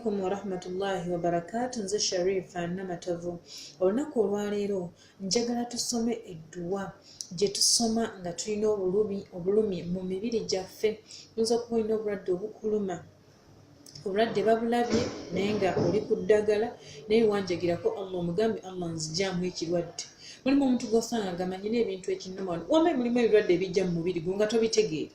alaikum warahmatullahi wabarakatu nze sharifa namatovu olunaku olwaleero njagala tusome edduwa gye tusoma nga tulina obulumi obulumi mu mibiri gyaffe oyinza okuba olina obulwadde obukuluma obulwadde babulabye naye nga oli ku ddagala naye wanjagirako allah omugambe allah nzijaamu ekirwadde mulimu omuntu gwosanga gamanyi n'ebintu ekinuma wambe mulimu ebirwadde ebijja mu mubiri gwo nga tobitegeera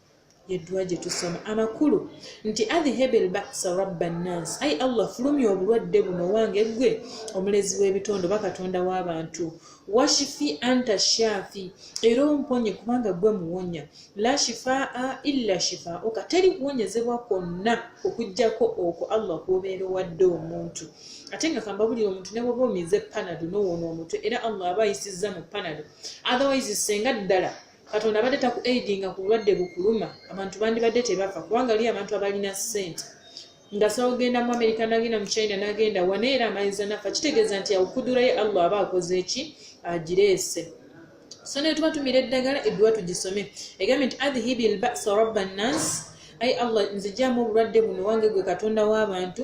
yeddwa gye tusoma amakulu nti adhihebi lbasa rabba nnansi ayi allah fulumya obulwadde buno wange ggwe omulezi w'ebitonde oba katonda w'abantu washifi anta shafi era omponye kubanga ggwe muwonya la shifaa illa shifaauka teri kuwonyezebwa kwonna okugyako okwo allah kwobeera owadde omuntu ate nga kambabulira omuntu ne bwoba omize panado nowona omutwe era allah aba ayisizza mu panado otherwise senga ddala katonda abadde taku aidinga ku bulwadde bukuluma abantu bandibadde tebafa kubanga li abantu abalina ssente ngasobola okugenda mu amerika nagenda mu china nagenda wana era amayiza nafa kitegeeza nti awukudura ye allah aba akoze eki agireese so naye tuba tumira eddagala edduwa tugisome egambye nti adhihibi lbasa rabba nnansi ai allah nzijamu obulwadde buno wange gwe katonda w'abantu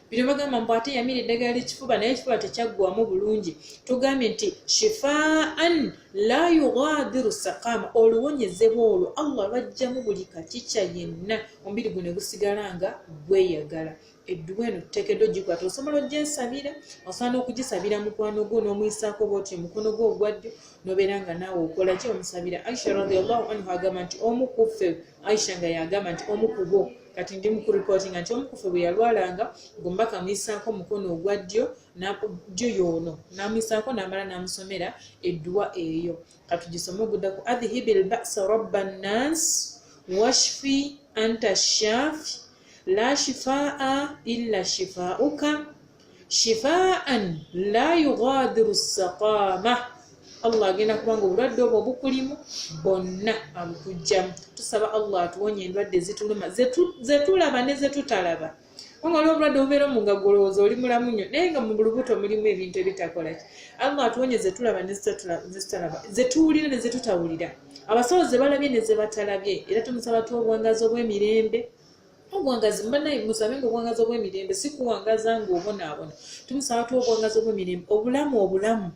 bino bagamba mbu ate yamira eddagala lyekifuba naye ekifuba tekyaggwamu bulungi tugambye nti shifaan la yughadiru sakama oluwonyezebwa olwo allah lwajjamu buli kakica yenna omubiri guno egusigala nga gweyagala edduwa eno tuteekeddwa ogikwata osobola ogyesabira osobola n'okugisabira mukwano gwo n'omuyisaako bwotyo omukono gwo ogwaddyo nobeera nga naawe okola ki omusabira aisha radiallahu anhu agamba nti omu kuffe Aisha nga yagamba nti omu ku bo kati ndi mukuripootinga nti omu kufe bwe yalwalanga gombaka amuyisaako omukono ogwa ddyo ddyo yoono n'amuyisaako n'amala n'amusomera edduwa eyo katugisome ogudda ku adhihibi lbasa rabba nnas washfi anta shafi la shifaa illa shifauka shifaan la yughadiru saqama allah agenda kubanga obulwadde obwo obukulimu bonna abukujjamu tusaba allah atuwonye endwadde zituluma zetulaba ne zetutalaba kubanga waliwo obulwadde obubeera omu nga golowooza oli mulamu nnyo naye nga mu bulubuto mulimu ebintu ebitakolaki allah atuwonye zetulaba nezetutalaba zetuwulira ne zetutawulira abasawo zebalabye ne zebatalabye era tumusaba tuwa obuwangazi obw'emirembe obwangazi mbanaye musabe nga obwangazi obwemirembe sikuwangaza nga obonaabona tumusaba tu obwangazi obwemirembe obulamu obulamu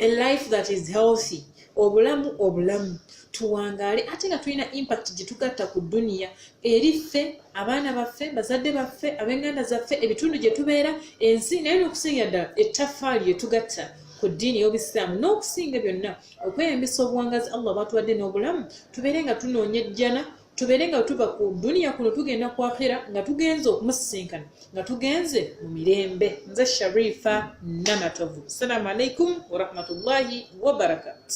a life that is healthy obulamu obulamu tuwangaale ate nga tulina impact gyetugatta ku duniya eri ffe abaana baffe bazadde baffe abenganda zaffe ebitundu gye tubeera ensi naye nokusingira ddala ettafaali yetugatta ku ddiini y'obusiraamu n'okusinga byonna okweyambisa obuwangazi allah bwatuwadde n'obulamu tubeere nga tunoonya ejjana tubeere nga wetuva ku duniya kuno tugenda ku akhira nga tugenze okumusisinkana nga tugenze mu mirembe nze sharifa namatovu assalamu alaikum warahmatullahi wabarakatu